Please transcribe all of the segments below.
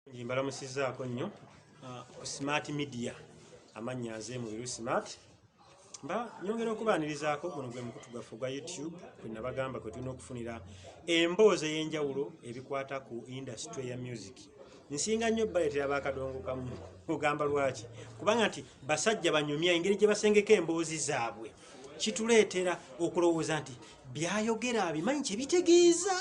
Mbalamusizaako nnyo ah, ku Smart Media amannya nze Mubiru Smart mba nyongera okubaanirizaako guno gwe mukutu gwaffe ogwa YouTube kwe nabagamba kwe tulina okufunira emboozi ey'enjawulo ebikwata ku indasitule ya music nsinga nnyo baleetera bakadongo kamu ogamba lwaki kubanga nti basajja banyumya engeri gye basengeka emboozi zaabwe kituleetera okulowooza nti byayogera abimanyi kye bitegeeza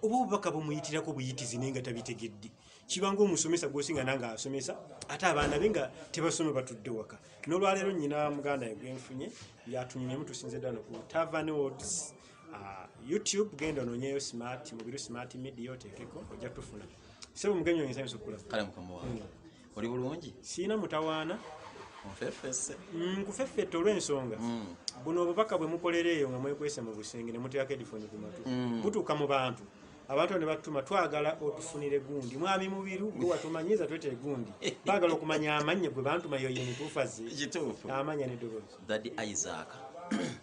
oba obubaka bumuyitirako buyitizi naye nga tabitegedde kibanga omusomesa gwosinga nange asomesa ate abaana be nga tebasoma batudde waka nolwaleero nyina muganda ye gwenfunye yatunyumyemu tusinze ddala noku tavan ods ah, youtube genda ononyeyo smart mubiru smart media otekeko ojja tufuna sebo mugenyi oyinza yinza okukulaba kale mukama wange hmm. oli bulungi siina mutawaana nfefese mm, nkufeffette olw'ensonga mm. buno obubaka bwe mukolera eyo nga mwekwese mu busenge ne muteerako edifoni ku matu mm. butuuka mu bantu abantu ne batuma twagala otufunire gundi mwami mubiru gwe watumanyiza twete gundi baagala okumanya amannye gwe bantuma yoyo mutuufazi amanya ne dobozi dadi isaaka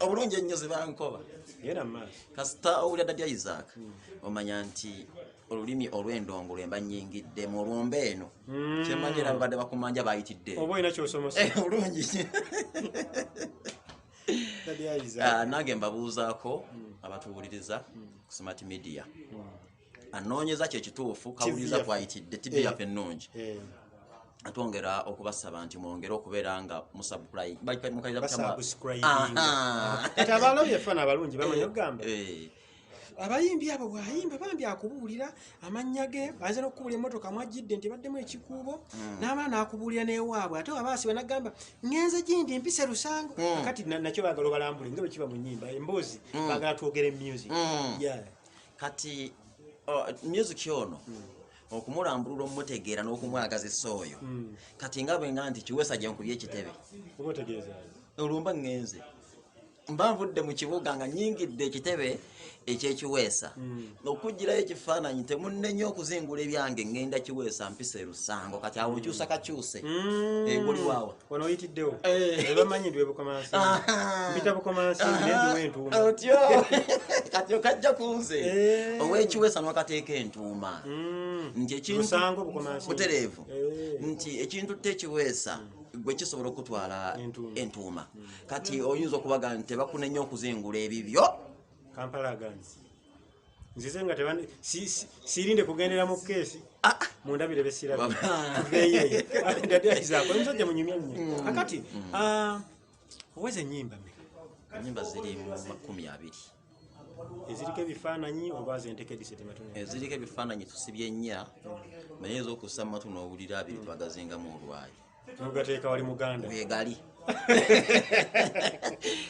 obulungi ennyo zebankoba kasita owulira dda lya isaaka hmm. omanya nti olulimi olw'endongo lwemba nyingiddemu olwomba eno hmm. kyemanyi era babadde bakumanja bayitidde eh, olungi ah, nange mbabuuzaako hmm. abatuwuliriza ku smart media anoonyeza kyo ekituufu kawuliriza kwayitidde tibi eh, yaffe ennungi eh. atwongera okubasaba nti mwongere okubeera nga musabukulayiabalabyefaana abalungi bamanyi okugamba eh. abayimbi abo bwayimba bambi akubuulira amannya ge aze nokukubula emotoka mwajjidde nti baddemu ekikuubo hmm. naamala nakubuulira newaabwe ate wabaasiba nagamba ngenze gindi mpise lusango hmm. kati nakyo bagala obalambule nga bwekiba mu nyimba emboozi hmm. bagala twogere music kati oh, music ono hmm. okumulambulula omutegeera n'okumwagazisa oyo hmm. kati nga bwenga nti kiwesa gyenkubye ekitebe olumba ngenze mba nvudde mu kibuga nga nyingidde ekitebe ekyekiweesa hmm. okugirayo ekifaananyi temunenya okuzingula ebyange ngenda kiweesa mpisa erusango kati awo okyusa kakyuse egoliwawa eh, wano oyitiddewo ebamanyi ndi webukomansi mpita bukomansi nendiwa entuuma otyo kati okajja kunze owekiwesa nwakateeka entuuma nti ekintusango bukomansi butereevu nti ekintu tekiweesa gwe kisobola okutwala entuuma kati oyinza okubaga nti tebakunenya okuzingula ebibyo kampala aganzi nzize nga tebandi sirinde kugendera mu keesi ah. mundabire besirabeyeyako omusajja munyumya nyo mm. akati mm. ah, oweza enyimba me enyimba ziri mu makumi abiri eziriko ebifaananyi oba zentekediseziriko ebifaananyi tusibye nnya naye ezokussa matu n'owulira abiri twagazingamu olwayo mugateeka wali muganda wegali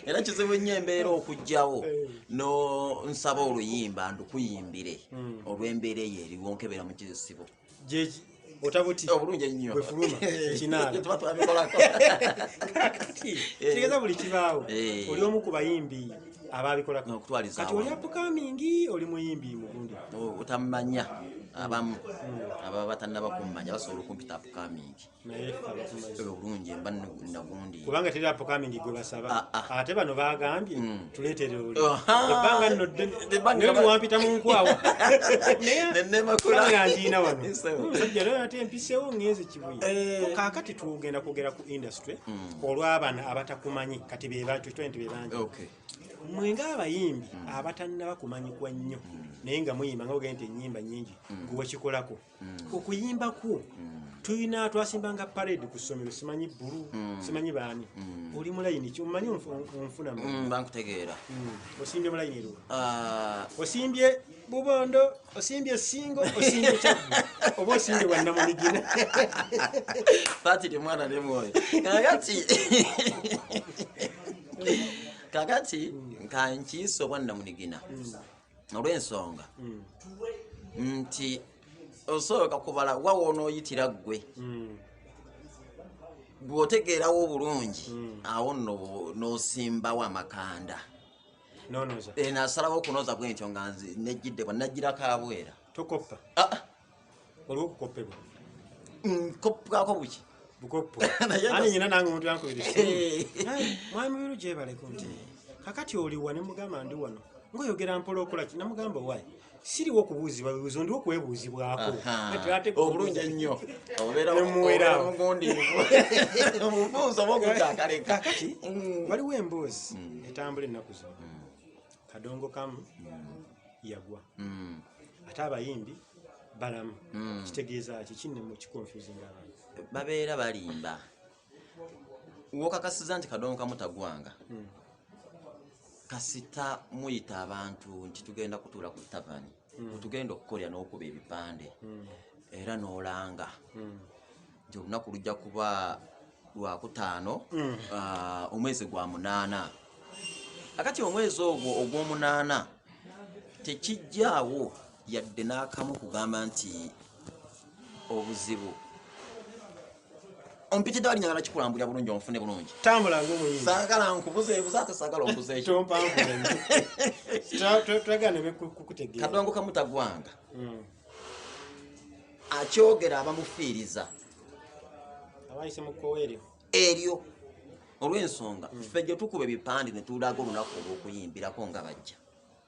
era kizibu nnyo embeera okugyawo eh. no nsaba oluyimba ndukuyimbire hmm. olw'embeera eyo eriwo nkebera mu kizisibo otabuti obulungi ennyo bwefuluma ekinaala tuba twabikolako kakati eh. kitegeeza buli kibaawo eh. oli omu ku bayimbi abaabikolako okutwaliza kati oli apukamingi oli muyimbi mugundi oh, otamanya abamu hmm. ababa batannaba kummanya basobola okumpita apukamingi obulungi mba nagundi kubanga teri apokamingi gwe basaba ah, ah. ate bano bagambye mm. tuletere oli ebbanga nno ddewampita mu nkwawa nayenemakulaangiina wano musajja leo ate empisewo ngenze kibuye eh. kakati tugenda kwogera ku industry mm. olw'abana abatakumanyi kati bebantu kitwa nti bebangi mwe ng'abayimbi mm. abatannaba kumanyikwa nnyo naye nga muyimba nga ogende nti enyimba nyingi gwewakikolako mm. okuyimba kwo tulina twasimbanga parade ku ssomero simanyi bbulu mm. simanyi baani mm. oli mulayini ki omanyi onfuna mm, bankutegeera osimbye mulayini eruwa ah. osimbye bubondo osimbye singo osimbye kyabu oba osimbye bwannamunigina fatiri mwana ne mwoyo kakati kakati nkankiisa obwannamunigina olw'ensonga mm. nti osooka kubala wa wonooyitira ggwe mm. bw'otegeerawo obulungi mm. awo nno n'osimbawo amakanda nasalawo okunoza bwentyo nga nejjidde bwa najjira kabwera ah, ah. waliwo okukoppebwa nkoppwako buki bukoppo ani nyina nange omuntu yankubira mwami mubiru gyebaleko nti kakati oliwa ne mugamba ndi wano ngaoyogera mpola okola ki namugamba wayi siriwo okubuuzibwa bibuuzo ndiwo kwebuuzibwako obulungi ennyo obeeraomubuuzo oba okutakalekkakati mm. waliwo emboozi mm. etambula ennaku zona mm. kadongo kamu mm. yagwa mm. ate abayimbi balamu mm. kitegeeza ki kinne mu kikonfuzinga abantu babeera balimba wokakasiza nti kadongo kamu tagwanga mm. kasita muyita abantu nti tugenda kutuula ku tavani wetugenda hmm. okukolera n'okuba ebipande hmm. era n'olanga hmm. nti olunaku lujja kuba lwakutaano ah, omwezi gwa munaana akati omwezi ogwo ogw'omunaana tekijjaawo yadde n'akamu kugamba nti obuzibu ompitidde wali njagala kikulambulira bulungi onfune bulungi tambula ngaomuyimbi saagala nkubuze ebuze ate saagala ombuze ekyo tompambuletwagana kukutegeera kadongo kamutagwanga hmm. akyogera abamufiiriza abayise mu kkoweeryo eryo olw'ensonga hmm. ffe gye tukuba ebipande ne tulaga olunaku olw'okuyimbirako nga bajja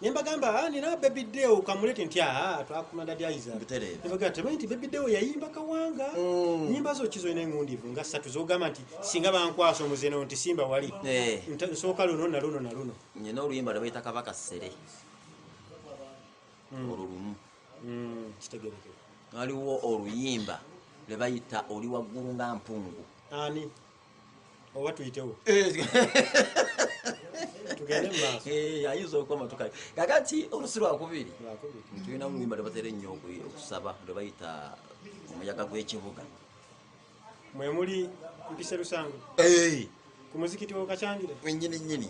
nembagamba ah, nina baby deo kamulete nti aa ah, twakumanda dyaizanembagamba temanyi nti baby deo yayimba kawanga mm. nyimba zo kizo ina engundivu nga satu zogamba nti singa bankwasa omuzeno nti simba wali eh. nsooka luno naluno naluno nyina oluyimba lwebayita kabaka sere mm. olwo lumu mm, kitegereke waliwo oluyimba lwebayita oli waggulu nga mpungu ani oba tuyitewo eh, ayinza okukoma tukale kakati olusi lwakubiri tulina muluyimba lwebatera ennyo okusaba lwe bayita omuyaga gw'ekibuga mwe muli mpise lusango eh. ku muzikiti wokacangire wenyini nyini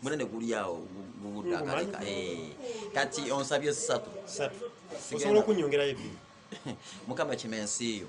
munene guli awo guguddakaleka eh. kati onsabye satu osobola okunyongerayo ebi mukama kima ensi yo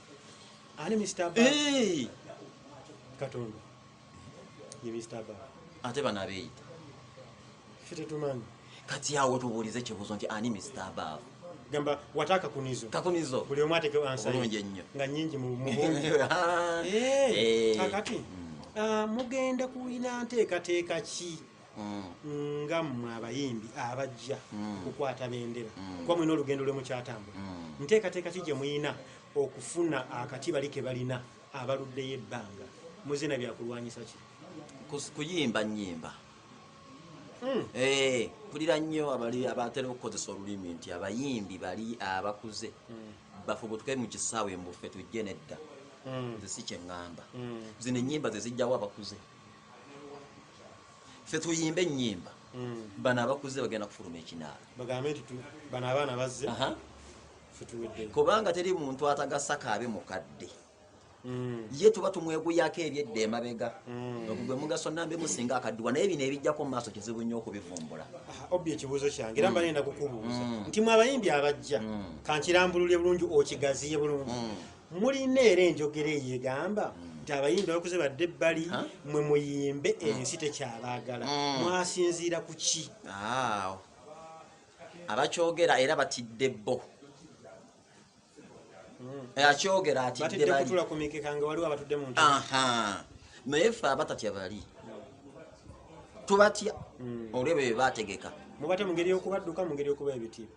ani Mr. Bag? Hey! Katonda. Ye Mr. Bag. Ate bana beita. Fite tumani. Kati yawo tubulize kibuzo nti ani Mr. Bag? Gamba wataka kunizo. Kakunizo. Buli omwate ke answer. Bulunje nnyo. Nga nyingi mu muhungi. Eh. Kakati. Mm. Ah, mugenda kuina nteka teka ki? nga mmwe abayimbi abajja okukwata bendera kuba mulina olugendo lwe mukyatambula nteekateeka ki gye mulina okufuna akati bali ke balina abaluddeyo ebbanga muzina byakulwanyisa ki kuyimba nyimba hmm. eh, mpulira nnyo abali abatera okukozesa olulimi nti abayimbi bali abakuze hmm. bafubutuke mu kisaawe mbufe tujje nedda hmm. nze si kyeŋŋamba zino ennyimba ze zijjawo abakuze ffe tuyimba ennyimba mm. bano abakuzze bagenda kufuluma ekinaala bagambe nti bano abaana bazze kubanga teri muntu atagasa kaabe mukadde mm. ye tuba tumweguyako ebyedda emabega mm. ogugwe mugaso nambe musinga akaddiwa naye bino ebijjako mumaaso kizibu nnyo okubivumbula ah, obi ekibuuzo kyange era mbanenda kukubuuza nti mwabayimbi abajja kankirambululye bulungi okigaziye bulungi mulina era enjogera eyo egamba hmm. nti abayimbi abakuze badde ebbali mwe muyimbe hmm. ensi tekyabaagala hmm. mwasinziira ku ki abakyogera era batidde bo eh, akyogera atiddekutula kumikeka nga waliwo abatudde mu naye fe abatatya bali tubatya olwebyo bye bategeka mubate mu ngeri y'okubadduka mu ngeri y'okuba ebitiibwa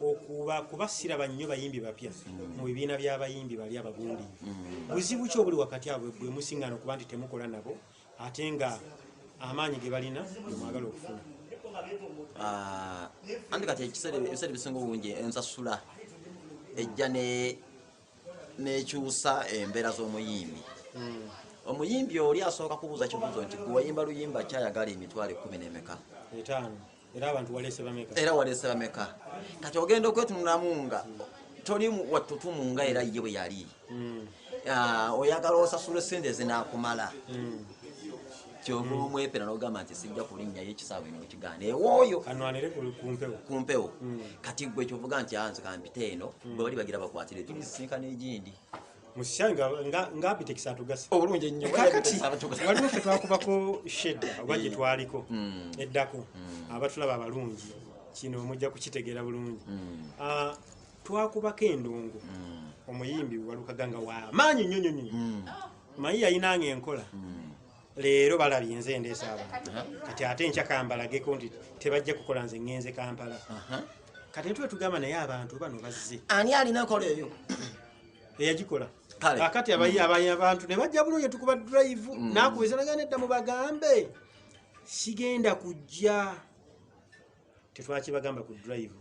okuba kuba siraba nnyo bayimbi bapya mu bibiina by'abayimbi bali abagundi mm. buzibu ki obuli wakati abwe bwe musingana okuba nti temukola nabo ate nga amaanyi ge balina mwagala okufuna ah, anti kati ekiseera ebisinga obungi ensasula ejja nekyusa embeera z'omuyimbi mm. omuyimbi oli asooka kubuuza kibuuzo nti gwewayimba luyimba kyayagala emitwalo ekumi nemeka era abantu waleese bameka era waleese bameka kati ogenda okwetunulamu nga toli wattutumu nga era ye bwe yali hmm. ah, oyagala osasula esente zinakumala hmm. kyova omwepera nogamba nti sijja kulinnyayo ekisaawa eno mukigaana ewooyo ku mpewo hmm. kati gwe kyovuga nti anze kampita eno bwe bali bagira bakwatire tulisisinkana egindi obulungi ennyo kakati waliwo fe twakubako shedda oba gye twaliko hmm. eddako hmm. abatulaba abalungi kino mujja kukitegeera bulungi hmm. ah, twakubako endongo omuyimbi walukaganga wamaanyi nnyo nyo nyo mayi yayinanga enkola leero balabye nze endeesa abantu kati ate nkya kambalageko nti tebajja kukola nze ŋŋenze kampala kati netwe tugamba naye abantu bano bazze ani alina kola eyo eyagikola kakati abayi mm. abayi abantu ne bajja bulungi tukuba drive mm. nakuweza nagana edda mu bagambe sigenda kujja tetwakibagamba ku drive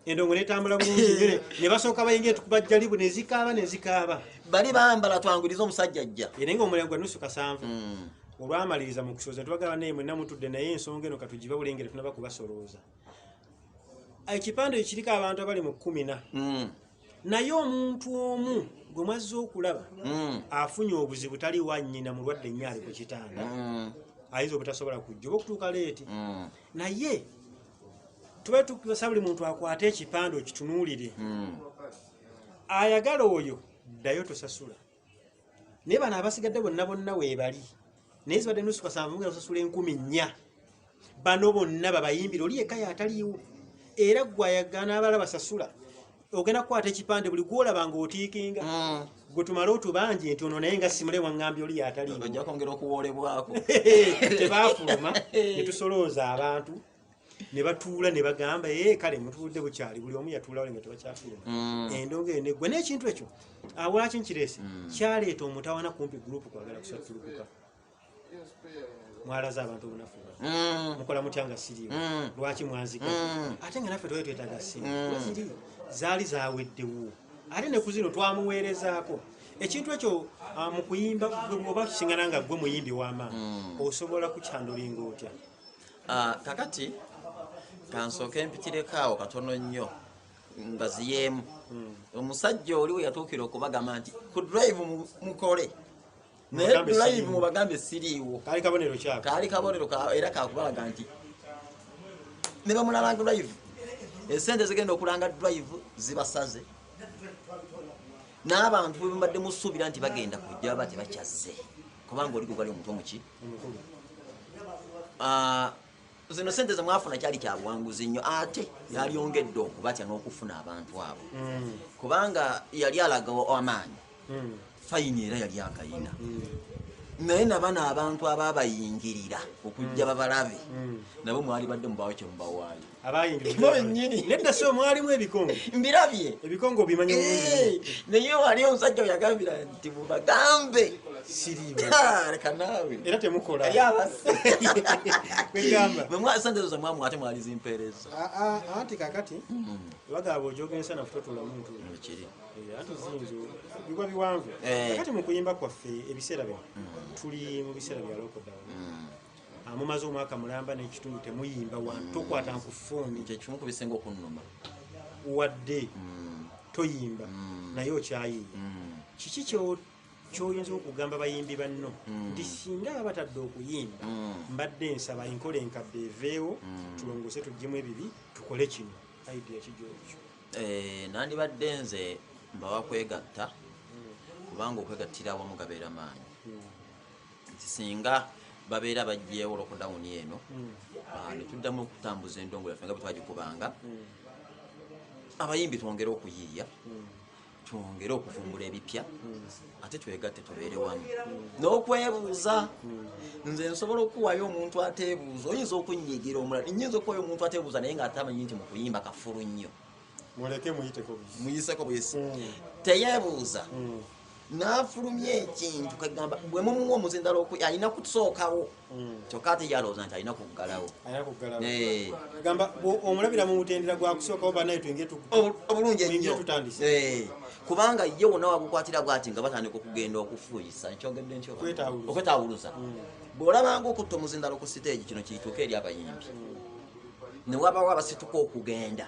endongo netambula bulungi ne basooka bayinga etukuba jjalibu ne zikaaba ne zikaaba bali bambala twanguriza omusajja ajja era nga omulengo gwa nusu kasanvu mm. olwamaliriza mu kusooza tubagaba naye mwenna mutudde naye ensonga eno katugiba bulengere tunaba kubasolooza ekipande ekiriko abantu abali mu kumi na naye omuntu omu gwe mwazze okulaba hmm. afunye obuzibu tali wa nyina mulwadde nnyo ali ku kitanda hmm. ayinza obutasobola kujja oba okutuuka leeti hmm. naye tuba tukasa buli muntu akwate ekipande okitunuulire ayagala oyo ddayo tosasula naye bano abasigadde bonna bonna weebali naye zibadde nusu kasanvu nga osasula enkumi nnya bano bonna babayimbira oli yekka yataliiwo era gwe ayagana abala basasula ogenda kukwata ekipande buli gwolaba nga otiikinga mm. gwe tumale otubanje nti ono naye nga simule waŋŋambye oli yataliiwo ojja kwongera okuwoolebwako tebaafuluma ne tusolooza abantu ne batuula ne bagamba ee eh, kale mutuudde bukyali buli omu yatuulawo lenga tebakyatuula mm. endonga eyo neggwa naye ekintu ekyo awaki nkireese mm. kyaleeta omutawana kumpi gurupu kwagala kusattulukuka mwalaza abantu obunafu mm. mukola mutya nga siriyo lwaki mwanzika ate nga naffe twali twetaaga sente ziri zaali zaweddewo ate ne ku zino twamuweerezaako ekintu ekyo ah, mu kuyimba bwoba kisingana nga gwe muyimbi w'amaanyi osobola kukyandulinga otya Ah, kakati kansooke mpitireko awo katono nnyo ngaziyeemu hmm. omusajja oli we yatuukira okubagamba nti ku drive mukole naye drive mubagambe siriiwo kaali kabonero kyako kaali kabonero era kakubalaga nti ne bamulabanga drive esente zigenda okulanga drive zibasaze n'abantu bwe mumbadde musuubira nti bagenda kujja baba tebakyazze kubanga oli gwegwali omuto muki ah, zino sente zemwafuna kyali kyabuwanguzi nnyo ate yalyongedde okubatya n'okufuna abantu abo hmm. kubanga yali alagawo amaanyi hmm. fayini era yali akayina hmm. naye nabano abantu ababayingirira okujja babalabe nabo mwali badde mubawo kyemubawaayo abayingidnedda so mwalimu ebikongo mbirabye ebikongo obimanyi eh, naye wali omusajja oyagambira nti mubagambe siribaleka naawe era temukola kwegambamwasendezoza mwamu ate mwali zimpeereza ah, ah, ah, anti kakati hmm. bagaba ojogensa nafutotola muntu kiri eh, anti zinzo bigwa biwanvu eh. kakati mukuyimba kwaffe ebiseera bino hmm. tuli mu biseera byalokodawa hmm. amumaze omwaka mulamba nekitundu temuyimba wa mm. tokwata nkufuuni kyekimukubisenge okunuma wadde mm. toyimba mm. naye okyayiye mm. kiki kyoyinza okugamba bayimbi banno mm. nti singa aba batadde okuyimba mm. mbadde nsaba enkola enkadde eveewo mm. tulongose tuggyemu ebibi tukole kino idea kijoekyo eh, nandibadde nze mbawa kwegatta mm. kubanga okwegattira awamu gabeera maanyi mm. nti singa babeera bajjeewo lokudawuni eno hmm. ah, netuddamu okutambuza endongo yaffe nga bwetwagikubanga hmm. abayimbi twongere okuyiiya hmm. twongere okuvumbula ebipya ate twegatte tubeere wamu n'okwebuuza nze nsobola okuwayo omuntu ateebuuza oyinza okunyigira omulala nyinza okuwayo omuntu ateebuuza naye nga atamanyi nti mukuyimba kafulu nnyo muleke muyiteko buyisi muyiseko buyisi mm. teyebuuza mm. nafulumya ekintu kagamba bwe mumuwa omuzindala oku alina kusookawo mm. kyokka ate yalowooza nti alina kuggalawo eh. gamba omulabira mu mutendera gwakusookawo banaye twenge obulungi ennyo eh. kubanga ye wona wagukwatira bwati nga batandika okugenda okufuuyisa nkyogedde ntyo okwetawuluza mm. bw'olabanga okutta omuzindala ku siteegi kino kiyituuka eri abayimbi mm. newabawo abasituka okugenda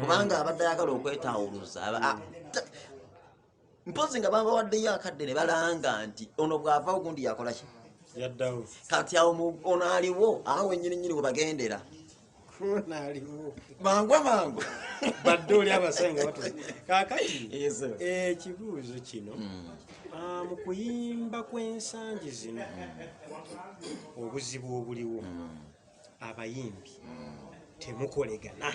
kubanga abadde ayagala okwetawuluza mpozi nga babawaddeyo akadde ne balanga nti ono bw'ava ogundi yakolaki kati awo ono aliwo awo wenyini nyini we bagendera mangu amangu badde oli abasenga batu kakati ekibuuzo eh, kino hmm. ah, mu kuyimba kw'ensangi zino hmm. obuzibu obuliwo hmm. abayimbi temukolegana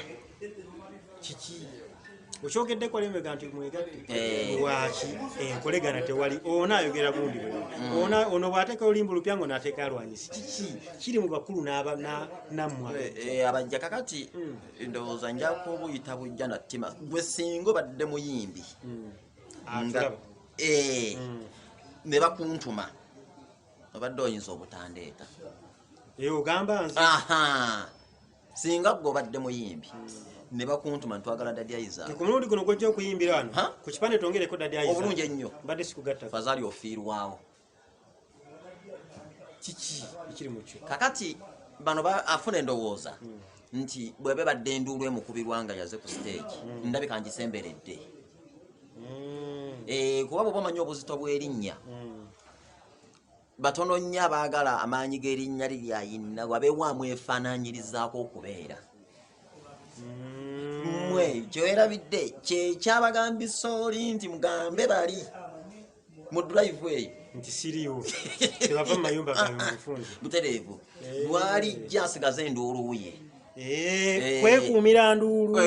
kiki okyogeddeko lemega nti mwegatte eh. waki enkolegana eh, tewali ona ayogera gundi mm. ona ono bwateka olimba olupya ngo nateka alwanyisi kiki kiri mu bakulu namwa eh, abajja kakati mm. ndowooza njako obuyita bujja na ttima gwe singa obadde muyimbi mm. nga ah, ne bakuntuma obadde oyinza obutandeeta eh, ogamba nze singa gwe obadde muyimbi hmm. ne bakuntuma ntwagala dadyayiza ku mulundi guno gwojja okuyimbira wano ku kipande twongereko dadyayiza obulungi ennyo mbadde sikugatta fazali ofiirwawo kiki ekiri mukyo kakati bano afuna endowooza hmm. nti bwebe badde enduulu emukubirwa nga yaze ku siteegi hmm. ndabika ngisemberedde eh, kuba bwoba omanyi obuzito bw'erinnya batono nnyo abaagala amaanyi g'erinnya lye lyayinna wabewaamu efaananyirizaako okubeera mmwe mm. kyoerabidde kyekyabagambisa oli nti mugambe bali mu drive eyo nti siriwo tebava mu mayumba gamufunzi butereevu eh. lwalijja asigaze enduuluuye Eh, eh, kwekuumira nduulu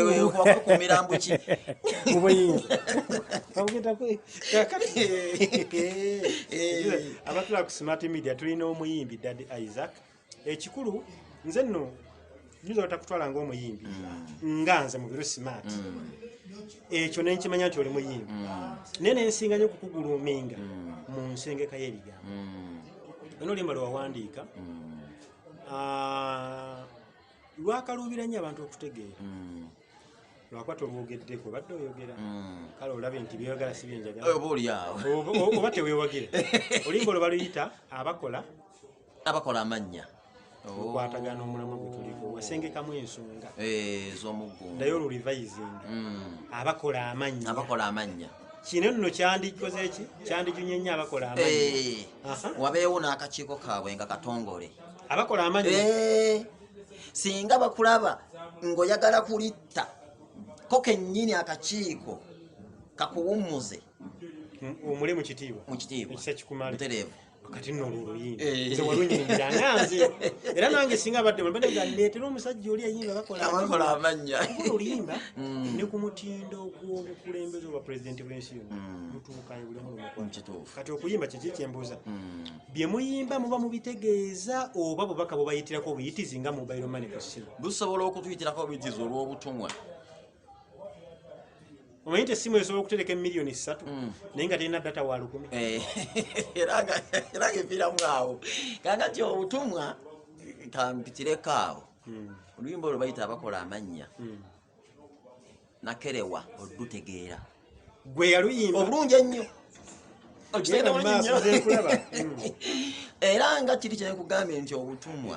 eh, abatula ku smart media tulina omuyimbi dad isaac ekikulu nze nno nyinza otakutwala nga omuyimbi mm. nga nze mubiru smart mm. ekyo nenkimanya nti oli muyimbi mm. naye nensinga nyo okukuguluminga mu nsengeka y'ebigambo ono olimba lwewawandiika Ah, lwakaluubira nnyo abantu okutegeera mm. lwakuba tolwogeddeko obadde oyogera mm. kale olabye nti byoyogala si byenjagalaoba tewewagira olimba olwo baluyita abakola abakola amannya okwatagana oh. omulamwa gwe tuliko wasengekamu ensonga eh, ez'omuggundayo olurivayizinga mm. abakola amannya kino nno kyandikoze ki kyandijunye nnyo abakola amanyi Eh, Aha. wabeewo n'akakiiko kaabwe nga katongole abakola amanyi Eh, singa bakulaba ng'oyagala kulitta ko kennyini akakiiko kakuwummuze omule mu kitiibwa mu kitiibwa ekisa kikumale butereevu kati nno olwo oluyimba eh. nze walunyingira nga nze era nange singa abadde mulbade nga ndeetera omusajja oli ayimba bakola amannya oluyimba mm. ne ku mutindo gw'obukulembeze obwa pulezidenti bw'ensi yonna mm. mutuukayo buli mulumukituufu kati okuyimba kyeki kyembuuza mm. bye muyimba muba mubitegeeza oba bubaka bubayitirako obuyitizi nga mubairo manifestin busobola okutuyitirako obuyitizi olw'obutumwa omanyi nti essimu esobola okutereka emiliyoni ssatu mm. naye nga terina data wa lukumi eh, era nga eviiramu awo kangati obutumwa kampitireko awo mm. oluyimba olwo bayita abakola amannya mm. nakerewa olutegeera gwe yaluyimba obulungi ennyo era nga kiri kyenkugambye nti obutumwa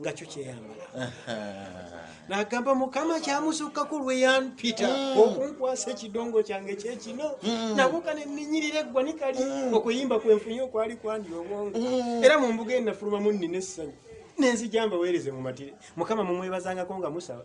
nga kyo kyeyambala nagamba mukama kyamusukkaku lweyanpita mm. okunkwasa ekidongo kyange kyekino mm. nabuka neninyirira eggwanika li mm. okuyimba kwenfunye okwali kwandi obwongo era mumbuga enafulumamu nina essanyu nenzijambaweereze mumatire mukama mumwebazangako nga musaba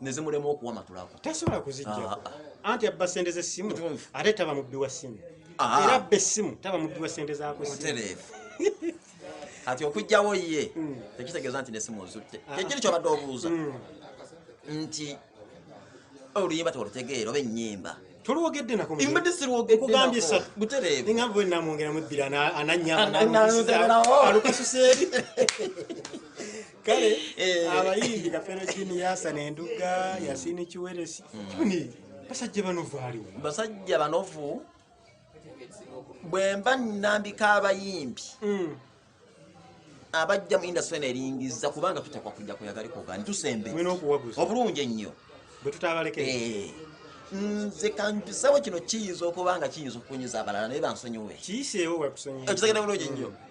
nezimulema okuwamatulako tasobola kuzijjako ah, ah. anti abba sente z'essimu ate taba mubbi wa ssimu ah. era abba essimu taba mubbi wa sente zaku kati okujjawo ye hmm. tekitegeeza nti nesimu ozutte kyekiri kyobadde obuuza hmm. nti oluyimba tolutegeera oba ennyimba tulwogedde nakobutereebutereebuenamwongera mubbira ananyalukasuseri kale eh. abayimbi kafero jini yasana enduga yasini kiweresi kibuni basajja banovu aliwo basajja banovu bwemba nambika abayimbi hmm. abajja mu industry eno eringiza kubanga tutekwa kujja kuyagala kugani tusembe obulungi ennyo eh. nze kampisewo kino kiyinza okuba nga kiyinza okukunyiza abalala naye bansonyiwe kiyiseewo wekusonyiwa ekisegera bulungi nnyo hmm.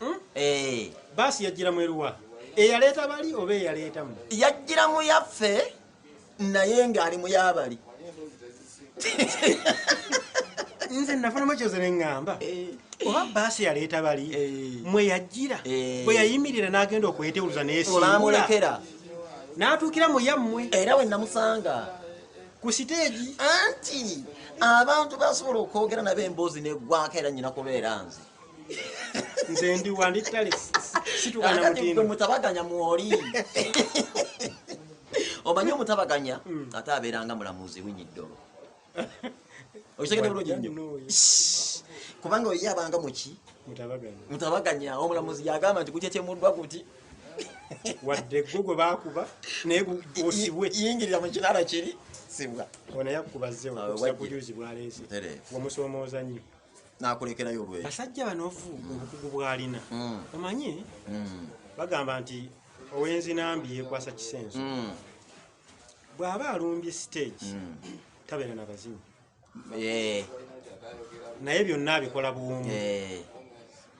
Hmm? Eh. Baasi yajjira mu eruwa? Eyaleeta bali oba eyaleeta mu? Yajjira mu yaffe naye ng'ali mu yabali. Nze nafunamu kyoze ne ŋŋamba. Eh. Oba baasi yaleeta bali eh. mwe yajjira bwe yayimirira n'agenda okwetewuluza n'esimbula. N'atuukira mu yammwe. Era we namusanga. ku siteegi anti abantu basobola okwogera nabo emboozi negwako era nyina kubeera nze nze ndi wandi tale situkana mutindo mutabaganya mwoli omanyi omutabaganya hmm. ate abeeranga mulamuzi winyi ddolo okitegede bulungi nnyo kubanga oyo yabanga muki mutabaganya omulamuzi yagamba nti kukyekyemuddwa kuti wadde gwe gwe bakuba naye osibwe yingirira mu kinaala kiri sibwa onayakubazewa kujuzi bwaleese wamusomooza nnyo nakulekerayo olweyo basajja banovu obukugu bwalina mm. omanyi mm. bagamba nti owenzi nambi yekwasa kisenso mm. bwaba alumbye stage mm. tabeera na bazimu yeah. naye byonna abikola buwumu yeah.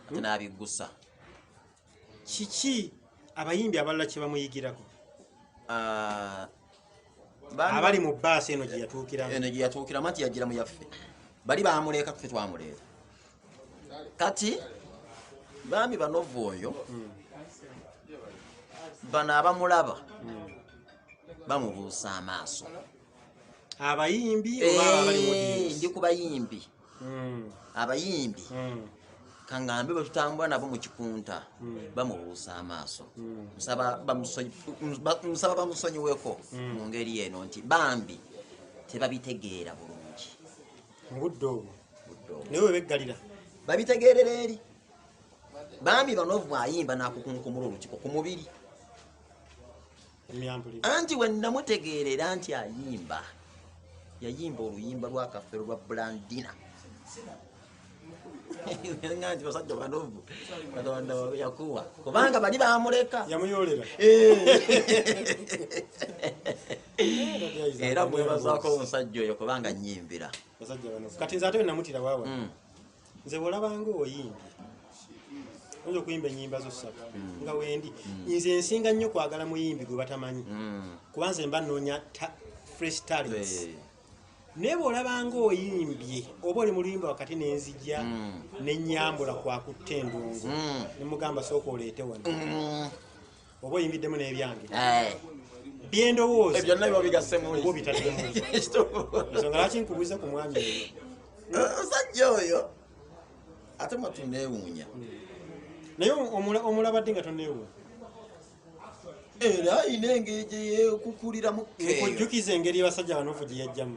hmm? nabigusa kiki abayimbi abalala kye bamuyigirako ah, abali mu baasi eno gye yatuukiramu eno gye yatuukiramu anti yajjira mu yaffe bali bamuleeka ffe twamuleeta kati bambi banovu oyo hmm. bano abamulaba hmm. bamubuusa amaaso abayimbi eh, ndi ku bayimbi hmm. abayimbi hmm. kangambe bwetutambula nabo mukikunta hmm. bamubuusa amaaso musaba bamusonyiweko mu ngeri eno nti bambi tebabitegeera bulungi mubudde obwo naye webeggalira babitegeerera eri bambi banovu ayimba nakukunkumula olukiko ku mubiri anti wenamutegeerera nti ayimba yayimba oluyimba lwakafero lwa blandina nti basajja banovu katonda yakuwa kubanga bali bamuleka yamuyolera era mwebazako omusajja oyo kubanga nyimbira kati nze ate wenamutira wawa mm. nze bwolabanga oyimbye oyinza okuyimba enyimba zo ssatu mm. nga wendi mm. nze nsinga nnyo kwagala muyimbi gwe batamanyi mm. kuba nze mba noonya fresh talents eh. naye bwolabanga oyimbye oba oli muluyimba wakati nenzija nenyambula kwakutta endungu nemugamba sooka oleete wano oba oyingiddemu n'ebyange eh. byendowooza eh, byonna biba bigasemubo bitalinsonga lwaki nkubuuza ku mwami oyo eh, musajja oyo ate mwatuneewuunya naye omulabadde nga toneewuunya era ayina engeri gyeyekukuliramu kujjukiza engeri abasajja banofu gye yajjamu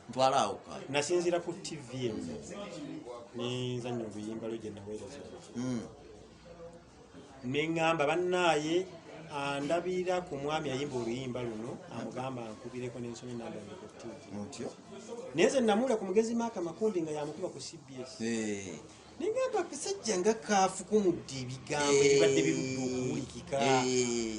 ntwala awo kayo nasinzira ku tv emu nenzanya obuyimba lwe gye naweereza hmm. neŋŋamba bannaaye andabira ku mwami ayimba oluyimba luno amugamba ankubireko nensoma enamba yange ku ttivi mutyo naye nze namuula ku mugezi maaka makumbi nga yamukuba ku cbs Eh, neŋŋamba akasajja nga kaafukumudde ebigambo Eh. ebibadde birudde okuwulikika eh,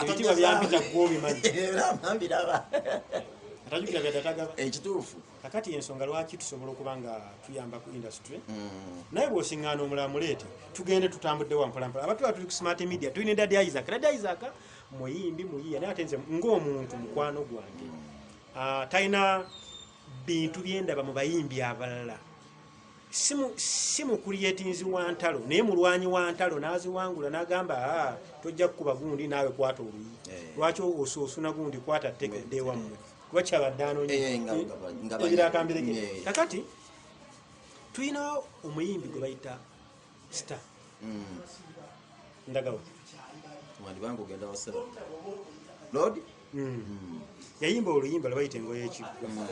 ebitiibwa byampita gwe obimanyi atajukira byatatagaba ekituufu kakati ensonga lwaki tusobola okuba nga tuyamba ku industry mm. naye bwosiŋŋaana omulamuleete tugende tutambudde wampolampola abatu batuli ku smart media tulina edadi isaac dadi isaac muyimbi muyiya naye ate nze ng'omuntu mukwano gwange mm. ah, talina bintu byendaba mu bayimbi abalala si mu kuliyetinzi wa ntalo naye mulwanyi wa ntalo n'aziwangula n'agamba ah, tojja kukuba gundi naawe kwata oluyi eh. lwaki osuusuna gundi kwata teke ddewammwe kuba kyabadde anonyeebirakambireekakati eh, eh, tulina omuyimbi gwe bayita star mm. ndagawa wandibanga ogenda wasera lord mm. mm. yayimba oluyimba lwebayita engoye ekigwa mm.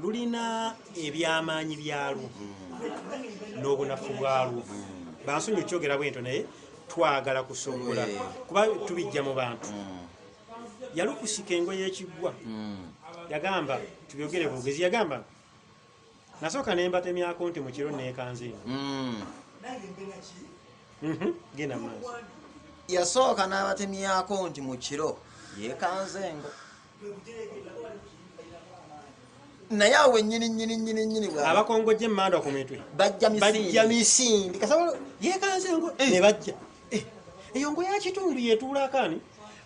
lulina ebyamaanyi byalwo mm. n'obunafu bwalwo mm. bansonyi okyogera bwento naye twagala kusobola eh. kuba tubijja mu bantu mm. yalukusika engoye ekigwa mm. yagamba tubyogere bwogezi yagamba nasooka ne mbatemyako nti mukiro neekanze eno hmm. mhm, genda maaso yasooka n'abatemyako nti mu kiro yeekanze engo naye awo wenyini nyini nyini nyini bwa abakongojje emmanda ku mitwe bajja misindi bajja misindi kasabolo yeekanze engo eh. ne bajja eh. eyo ngo ya kitundu yetuulako ani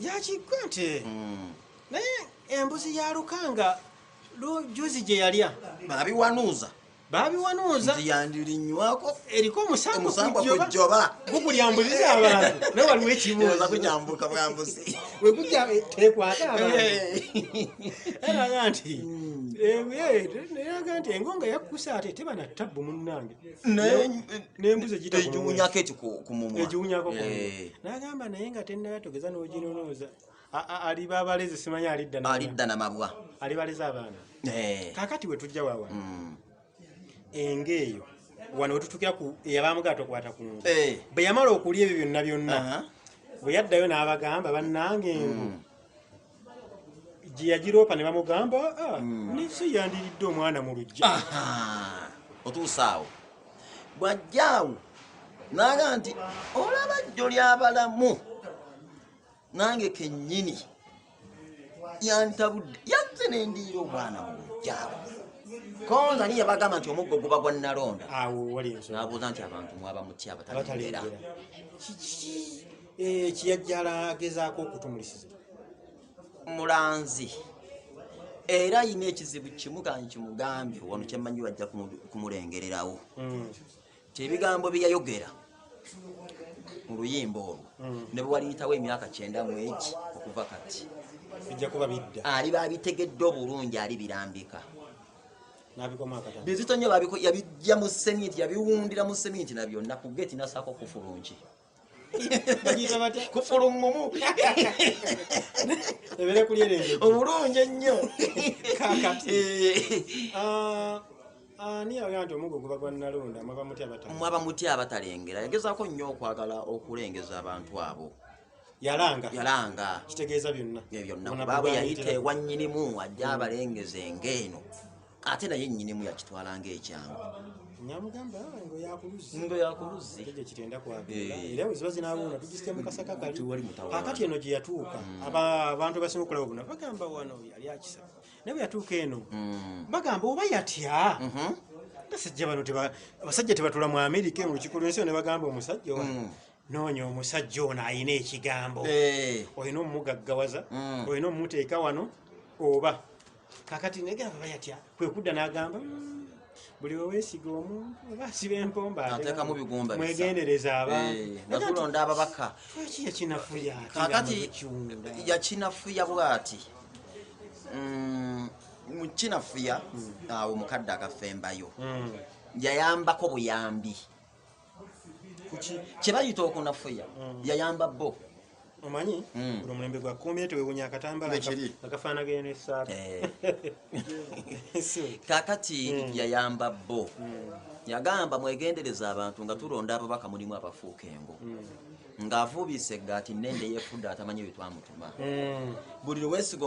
yakigwa nti hmm. naye embuzi ya lukanga lujuzi gye yalya babiwanuuza babiwanuuza nti yandirinywako eriko omusango kujjoba gukulya mbuzi zabantu naye waliwo ekibuuza kukyambuka bwambuzi wekujja eh, tekwata abantu era nga nti hmm. eh, eh, era nga nti engonga yakkusa ate teba na ttabbu munnange egiwunyako eki ku mumwa egiwunyako ku mumwa eh. nagamba naye nga tennala togeza n'oginonooza aliba abalezi simanyi alidda alidda na mabwa alibaleza abaana eh. kakati we tujja wawa mm. enga eyo wano wetutukira ku eyabamugaa tokwata ku ngu eh. bwe yamala okulya ebyo byonna byonna bwe yaddayo n'abagamba bannange engu mm. gye yagiroopa ne bamugamba ah, hmm. nisi yandiridde omwana mu lujja otuusa awo bw'ajja awo naaga nti olaba jjo lyabalamu nange kennyini yantabudde yazze ne ndiira omwana mu lujja awo konza niye bagamba nti omuggo guba gwa nalonda nabuuza nti abantu mwaba mutya abatalengera Eh, kiyajjala agezaako okutumulisiza mulanzi era ayina ekizibu kimu kanyi kimugambye wano kyemanyi bajja kumulengererawo hmm. ti ebigambo byeyayogera mu luyimba olwo hmm. ne bwewaliyitawo emyaka kyenda mu eki okuva kati ali babitegedde obulungi ali birambika bizito nyo yabijja mu seminti yabiwundira mu seminti nabyonna ku geti nasako kufulungi kufulungumu ebere kulyerere obulungi ennyo kakati eh. ah, ah, ani yagamba nti omugo guba gwa nalonda mwaba mutya abatalengera yagezaako nnyo okwagala okulengeza abantu abo yalanga yalanga kitegeeza byonna byonna baabwe yayita ewannyinimu ajja abalengeze ng'eno ate naye nyinimu yakitwala nga ekyangu ngo yakuluzzi kakati eno gyeyatuuka mm. abantu basinga okulaba bona bagamba wano yali akisa naye bweyatuuka eno mm. bagamba oba yatya mm-hmm. basajja bano abasajja tebatula mu amerika mu lukiko lwensi yo ne bagamba omusajja owa mm. noonya omusajja ono alina ekigambo eh. olina omumugaggawaza olina omumuteeka wano oba kakati naye gamba bayatya kwe kudda n'agamba mm, buli wewesiga omu oba asiba empomba atekamu bigumba mwegendereza abantuatulonda eh, ababaka lwaki yakinafuya kakati yakinafuya bwati mm, mukinafuya hmm. awo mukadde akafembayo hmm. yayambako buyambi kyebayita okunafuya mm. yayamba bo omanyi mm. buli omulembe gwa kumbire tewewunya akatambala akafaanagana nesaati eh. kakati mm. yayamba bo yagamba mwegendereza abantu nga tulonda ababaka mulimu abafuuka engo ng'avuubisa eggaati nende yefudde atamanyi byetwamutuma buli lwesiga